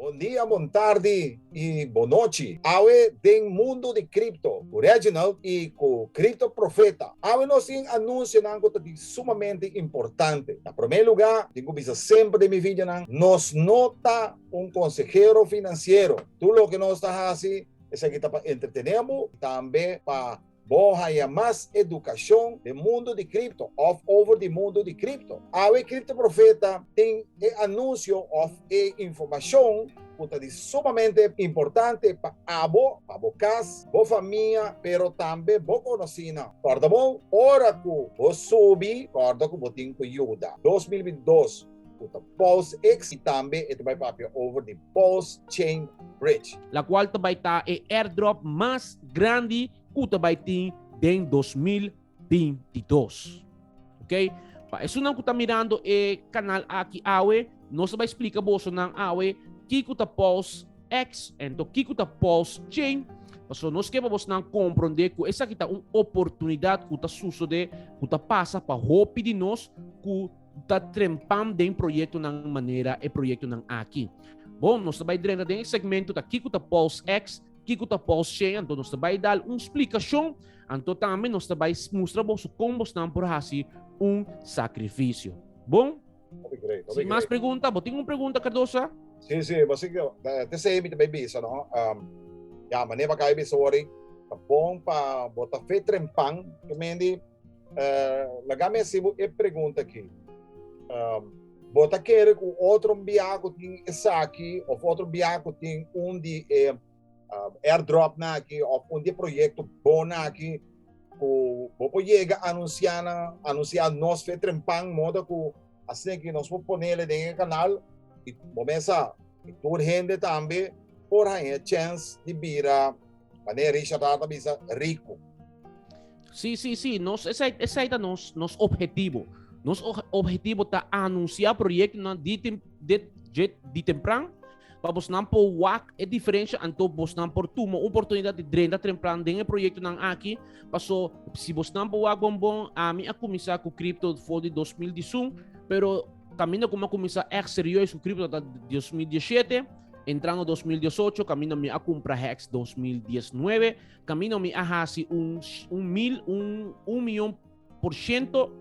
Bon dia, bon tardi y bon nochi. Awe den mundo di cripto cu Reginald y cu Crypto Profeta. Awe nos tin anunsionan cu ta di sumamente importante. Na prome luga, tin cu bisa semper den mi videonan, nos no ta un consehero financiero. Tur loke nos ta haci esaki ta pa entretene bo y tambe pa. Bo haña mas edukashon den mundu di kripto òf over di mundu di kripto? Awe e Kripto Profeta tin e anunsio òf e informashon ku ta di sumamente importante pa abo, pa bo kas, bo famia, pero tambe bo konosinan. Kòrda bon, ora ku bo subi, kòrda ku bo tin ku yuda. Dos mil binti dos. ku ta Paul's X i tambe e ta bai papia over di Paul's Chain Bridge. La kual ta bai ta e airdrop mas grandi ku ta bai tin den dos mil binti dos. Ok, pa esunnan ku ta mirando e kanal aki awe, nos ta bai splika boso nan awe kiko ta Paul's X ento kiko ta Paul's Chain, pasobra nos ke pa bosnan komprondé ku esaki ta un oportunidat ku ta susodé, ku ta pasa pa hopi di nos ku ta trempam den proyectonan manera e proyectonan aki. Bon, nos ta bai drenta den e segmento ta kiko ta Pulse X, kiko ta Pulse Chain, anto nos ta bai dal un explicacion, anto tambe nos ta bai mustra boso con bosnan por hasi un sacrificio. Bon? Sin mas pregunta, bo tin un pregunta Cardosa? Sí, sí, bo sí, te sei mi te bai bisa, no? Um, ya, maneer bakaya bisa wori, ta bon pa bo ta fe trempan, que mendi, Uh, laga mi hasi bo e pregunta aki. Um, bo ta kere ku otro bia ku tin esaki of otro bia ku tin un di e um, airdrop na aki of un di proyekto bon na aki ku bo po yega anuncia na anuncia nos fe trempan moda ku así que nos vamos poner en el canal y vamos a tur gente también por hay chance de vira Mané Richard Hart a bisa rico. Sí, sí, sí. Nos, esa, esa es nos, nos objetivo. Nos objetivo ta anunciar proyecto na di, tem, di, di, di temprano pa vos nan por wak e diferencia anto vos nan por tuma oportunidad de drenda tempran den e proyecto nan aki paso si vos nan por wak bon bon a mi a comienza cu crypto for di 2011 pero camino como a comienza echt serieus cu crypto ta 2017 Entrando dos mil dieciocho, camino mi a compra Hex dos mil diecinueve, camino mi a haci un, un mil, un, un millón por ciento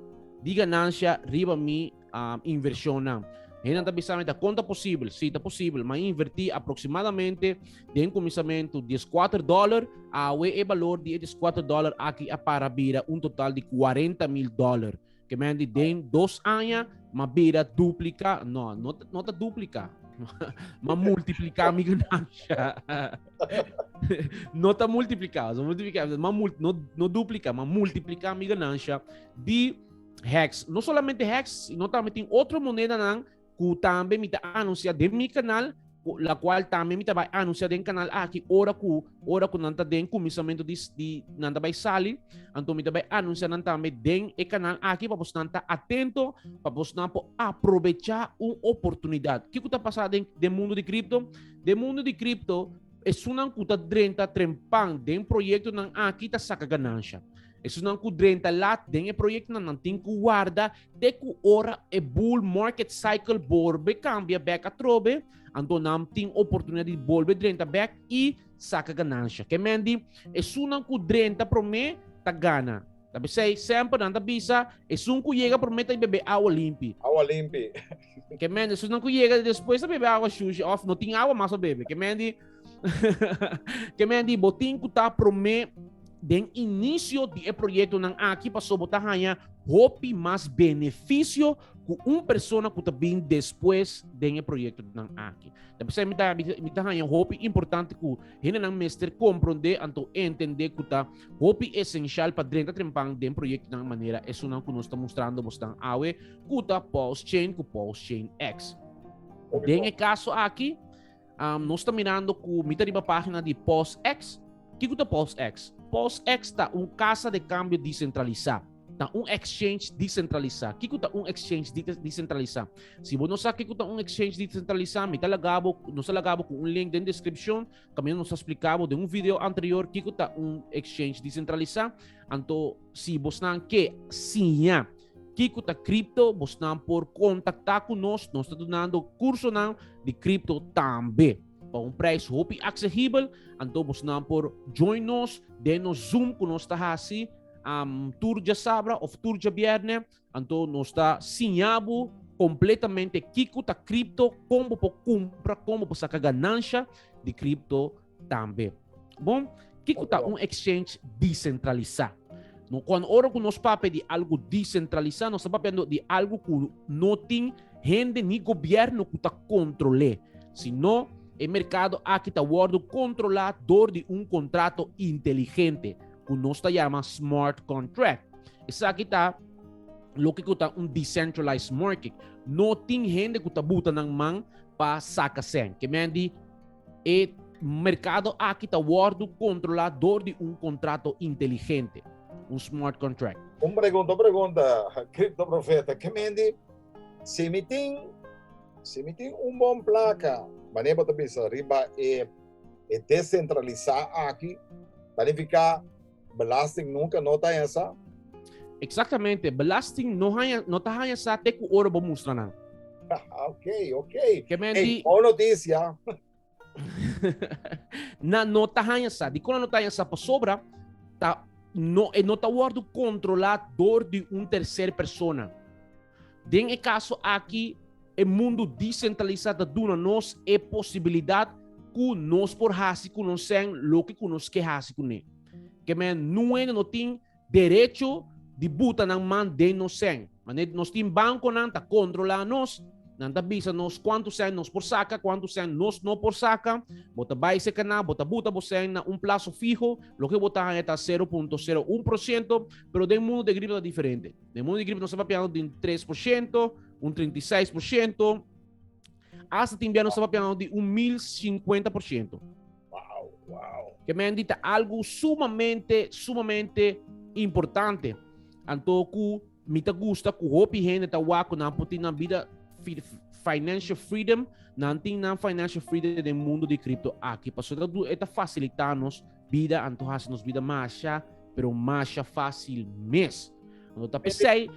de ganancia riba mi um, inversión. Hena ta bisa meta konta posible, si ta posible, ma inverti aproximadamente den comisamento 14 dólar, awe e valor di 14 dólar aki a para bira un total di 40 mil dólar. Que men di den dos aña, ma bira duplica, no, no, no ta duplica, ma multiplica mi ganancia. no ta multiplica, so multiplica, ma mul, no, no duplica, ma multiplica mi ganancia di hex. No solamente hex, sino también tin otro moneda nan ku tambe mi ta anunsia den mi kanal, la kual tambe mi ta bai anunsia den kanal aki ora ku ora ku nan ta den kuminsamentu di, di nan ta bai sali, anto mi ta bai anunsia nan tambe den e kanal aki pa bosnan ta atento, pa bosnan por aprobecha un oportunidat. Kiko ta pasa den, den mundu di kripto? Den mundu di kripto, esunnan ku ta drenta trempan den proyektonan aki ta saka ganansha. Esunnan ku drenta lat den e proyektonan nan tin ku warda Te ku ora e bull market cycle borbe kambia bek atrobe, anto nan tin oportunidat di bolbe drenta bek i saka ganansha. Ke men di, esunnan ku drenta promé ta gana. Ta p'esei semper nan ta bisa, Esun ku yega promé ta i bebé awa limpi. Awa limpi. Ke men di, sus nan ku yega despues a bebe awa shushi of no tin awa mas pa bebe. Ke men di, ke men di, bo tin ku ta promé den inisio di e proyekto nan aki paso bo ta haña hopi mas benefisio ku un persona ku ta bin despues den e proyekto nan aki. Ta p'esei mi ta, mi ta haña hopi importante ku hendenan mester komprondé anto entendé ku ta hopi esensial pa drenta trempan den proyekto nan manera esunnan ku nos ta mustrando bosnan awe ku ta pulse chain ku pulse chain X. Den e kaso aki, um, nos ta mirando ku mi ta riba página di pulse X. Kiko ta pulse X? Pulse X ta un kasa de kambio disentralisá. ta un exchange descentralizado. ¿Qué está un exchange descentralizado? Si vos no sabes qué está un exchange descentralizado, me está lagado, no está lagado con un link en la descripción, también nos explicado de un video anterior qué está un exchange descentralizado. Entonces, si vos no que siña, Kiko ta cripto? Bosnan por kontaktá ku nos, nos ta dunando kursonan di cripto tambe. Pa un prijs hopi aksehibel, anto bosnan por join nos den nos Zoom ku nos ta hasi um, tur dja sabra of tur dja bierne, anto nos ta siña bo kompletamente kiko ta cripto, kon bo por kumpra, kon bo por saka ganansha di cripto tambe. Bon, kiko ta un exchange desentralisá? No, kon ora ku nos papia di algu desentralisá, nos ta papiando di algu ku no tin hende ni gobièrnu ku ta kontrol'é, sino e merkado aki ta wòrdu kontrolá dor di un kontrato inteligente, ku nos ta yama smart contract. Esaki ta loke ku ta un decentralized market. No tin hende ku ta buta nan man pa saka sèn. Ke men di? E merkado aki ta wòrdu kontrolá dor di un kontrato inteligente, un smart contract. Un pregunta, un pregunta, Kripto Profeta, ke mende si mi tin, si mi tin un bon plaka, manera bo ta bisa riba e desentralisá aki, ta nifiká Belasting nunca no ta haña sa? Exactamente, belasting no, haña, no ta haña sa te cu oro bo mustra nan. ok, ok. Que men hey, di... noticia. na no ta haña sa. Di con no ta haña sa por sobra, ta, no, e no ta wordo controla door di un tercer persona. Den e kaso aki, e mundu disentralisá ta duna nos e posibilidat ku nos por hasi ku nonsen loke ku nos ke hasi kuné. Kem'é nuene no tin derecho di buta nan man den nos sen. Manera nos tin bankonan ta kontrolá nos, nan ta bisa nos kuantu sen nos por saka, kuantu sen nos no por saka. Bo ta bai seka nan, bo ta buta bo sen na un plaso fiho, loke bo ta haña ta sero punto sero un por siento, pero den mundu den riba ta diferente. Den mundo di cripto nos está papeando den 3%, un 36%, hasta también nos está papeando de un 1050%. Wow, wow. Que me han dicho algo sumamente, sumamente importante. Antoku, mi te gusta que hopi gente está guaco, na putin na vida financial freedom, na tin na financial freedom del mundo de cripto aquí. Paso, está facilitando bida anto hasi nos bida masha, pero masha fácil mes. Anto ta pesei,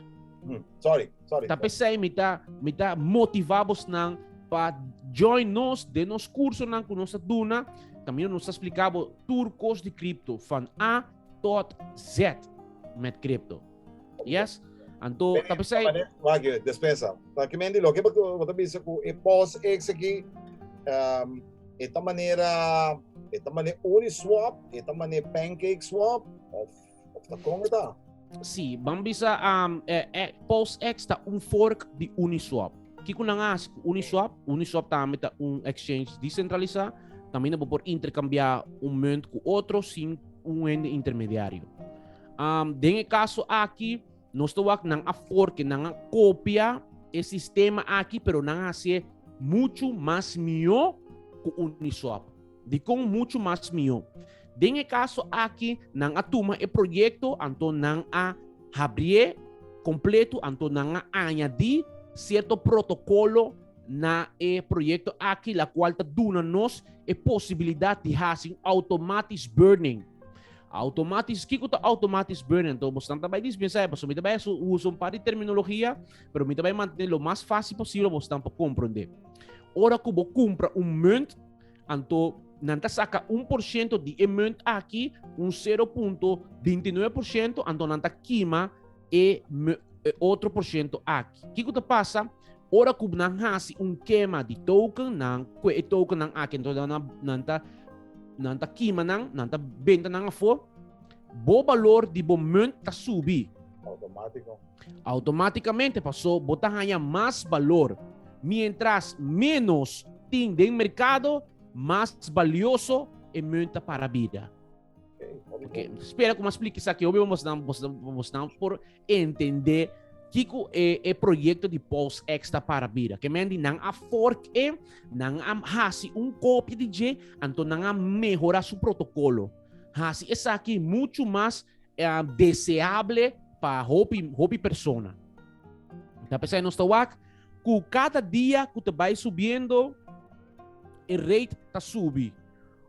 mm, sorry, sorry. Ta pesei mi ta mi ta motiva bos nan pa join nos de nos curso nan ku nos duna. También nos explicabo tur kos di cripto van A tot Z met cripto. Yes? Anto, ta pensei... Wacht, je, despensa. Pa ki men di lo, ke pa bo ta bisa ku e pos eks aki, um, e ta manera, e ta mane uni swap, e ta mane pancake swap, of, of ta kon e ta? Si, ban bisa, um, e, e, pos eks ta un fork di uni swap. Kiko nan hasi ku uni swap? Uni swap tambe ta un exchange desentralisa, tambe na bo por interkambia un munt ku otro sin un hende intermediario. Um, den e caso aki, nos te wak nan a forke, nan a copia e sistema aki, pero nan a hace mucho mas mio ku Uniswap. Di kon mucho mas mio. Den e caso aki, nan a tuma e proyecto, anto nan a habrie completo, anto nan a añadi cierto protocolo na e proyecto aki, la cual ta duna nos e posibilidad di hace automatisch burning. Automatis, kiko ta automatis burning? Enton, bosnan ta bay dispensa epa, so mi ta bay su uso un par di terminologia, pero mi ta bay mantene lo mas fácil posible bosnan pa comprende. Ora ku bo kumpra un munt, anto nan ta saka un por ciento di e munt aki, un 0.29%, anto nan ta kima e e otro por ciento aki. Kiko ta pasa? Ora ku nan hasi un kema di token nan, ku e token nan aki, entonces nan, nan ta nan ta kima nan, nan ta benta nan afo, bo balor di bo munt ta subi. Automático. Automáticamente pasó, bo ta haya mas balor. Mientras menos tin den mercado, mas valioso e munt ta para bida. Okay. Spera ku mas pliki saki obi mos nan mos mos nan por entender Kiko e, e proyecto de Post Extra para Bira. Que men di nan a fork e, nan a hasi un kopje di je, anto nan a mejora su protocolo. Hasi esa aqui muito mais uh, eh, deseable para hopi, hopi persona. Tá pensando nos tawak, ku cada dia ku te vai subiendo, e rate tá subi.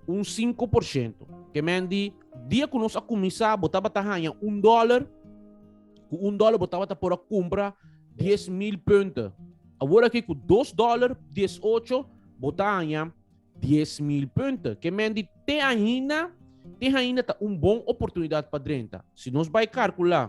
Un sinku por shento. Ke men di, dia ku nos a kuminsá, bo tabata haña un dòler, ku un dòler bo tabata por a kumpra dies mil punten. Awor aki ku dos dòler, dies ocho, bo ta haña dies mil punten. Ke men di, te ahinda, te ahinda ta un bon oportunidat pa drenta. Si nos bai karkulá,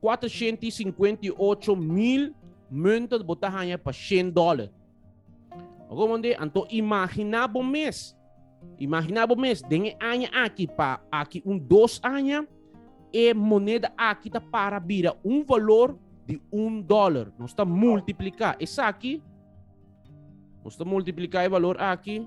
458 mil munten bo ta haya pa 100 dólar. Romonde, anto imagina bo mes. Imagina bo mes, den e aña aki, pa aki un dos aña, e moneda aki ta para bira un valor di un dólar. Nos ta multiplica esaki. Nos ta multiplica e valor aki.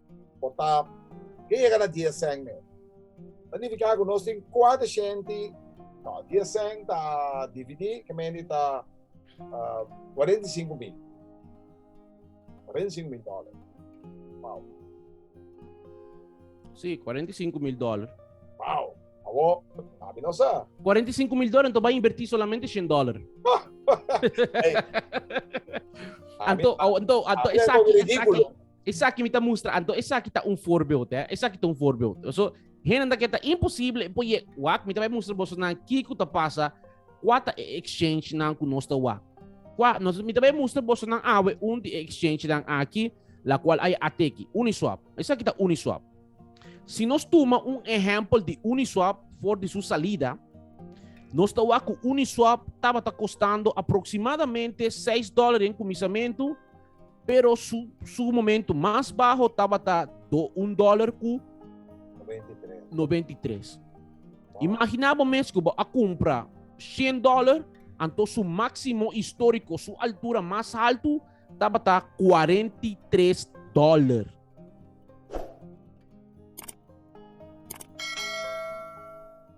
Por ta ke yega na dies sèn men. Ta nifiká ku nos tin kuater shenti, no, dies sèn ta dividí, ke men di ta kuarenta i sinku mil. Kuarenta i sinku mil dòler. Wou. Sí, kuarenta i sinku mil dòler. Wou. Awó, abi no sa. Kuarenta i sinku mil dòler, anto bo a invertí solamente shen dòler. Anto, anto, anto esaki, esaki. Esaki mi ta mustra, anto esaki ta un voorbeeld, hè. Esaki ta un voorbeeld. So, hende dat ta imposible, po je, wak, mi ta bai mustra boso nan kiko ta pasa, kwa ta e exchange nan ku nos ta wak. Kwa, nos, mi ta bai mustra boso nan awe un di e exchange nan aki, la kual a ateki, Uniswap. Esaki ta Uniswap. Si nos tuma un ehempel di Uniswap for di su salida, nos ta wak ku Uniswap tabata kostando aproksimadamente seis dòlaren kuminsamentu, Pero su, su momento más bajo tabata do un dólar cu 93. 93. Wow. Imagina bo mes que a compra 100 dólar, anto su máximo histórico, su altura más alto, tabata 43 dólar.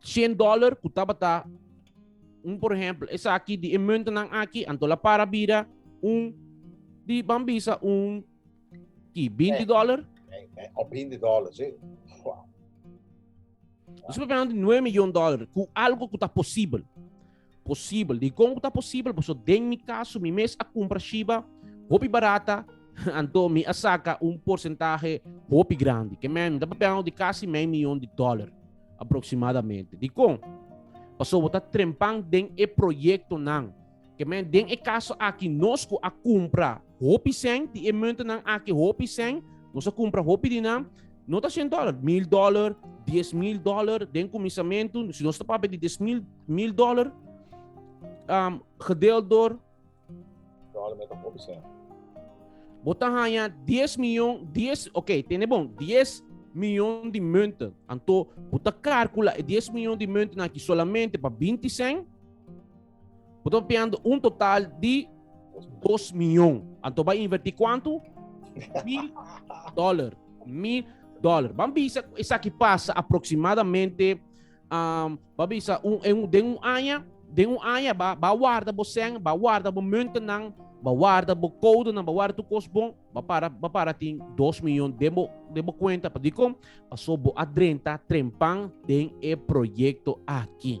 100 dollar ku tabata un por ejemplo esa aki di e muntenan aki anto la para bira un di bambisa un ki 20 eh, dollar eh, eh, of 20 dollar sí wow. Nosotros hablando de 9 miljoen dollar ku algo ku ta posibel Posibel. Dikon ku ta posibel? Paso den mi kaso mi mes a kumpra shiba hopi barata, anto mi a saka un porsentahe hopi grandi. Ke men, mi ta papel di kasi men miyon di dollar aproximadamente. Dikon? Paso bo ta trempan den e proyektonan. Ke men, den e kaso aki nos ku a kumpra hopi sèn, di e muntonan aki hopi sèn, nos a kumpra hopi di nan, No ta cien dollar, mil dollar, diez mil dollar, den comisamentu, si nos ta papel di diez mil, mil dollar, um, gedeeld door. Dollar met een procent. Bota haya 10 miljoen, 10, oké, okay, tene bon, 10 miljoen di munten. Anto, bota calcula 10 miljoen di munten aquí solamente para 20 cent, Bo ta piando un total di dos milyon. Anto ba inverti kuantu? Mil dollar. Mil dollar. Ban bisa esaki pasa aproximadamente um, ba bisa un, en, den un aña, den un aña ba, ba warda bo sen, ba warda bo muntenan, ba warda bo code nan, ba warda tu kos bon, ba para, ba para tin 2 milyon den bo, den bo cuenta, pa di kom, paso bo adrenta trempan den e proyecto aki.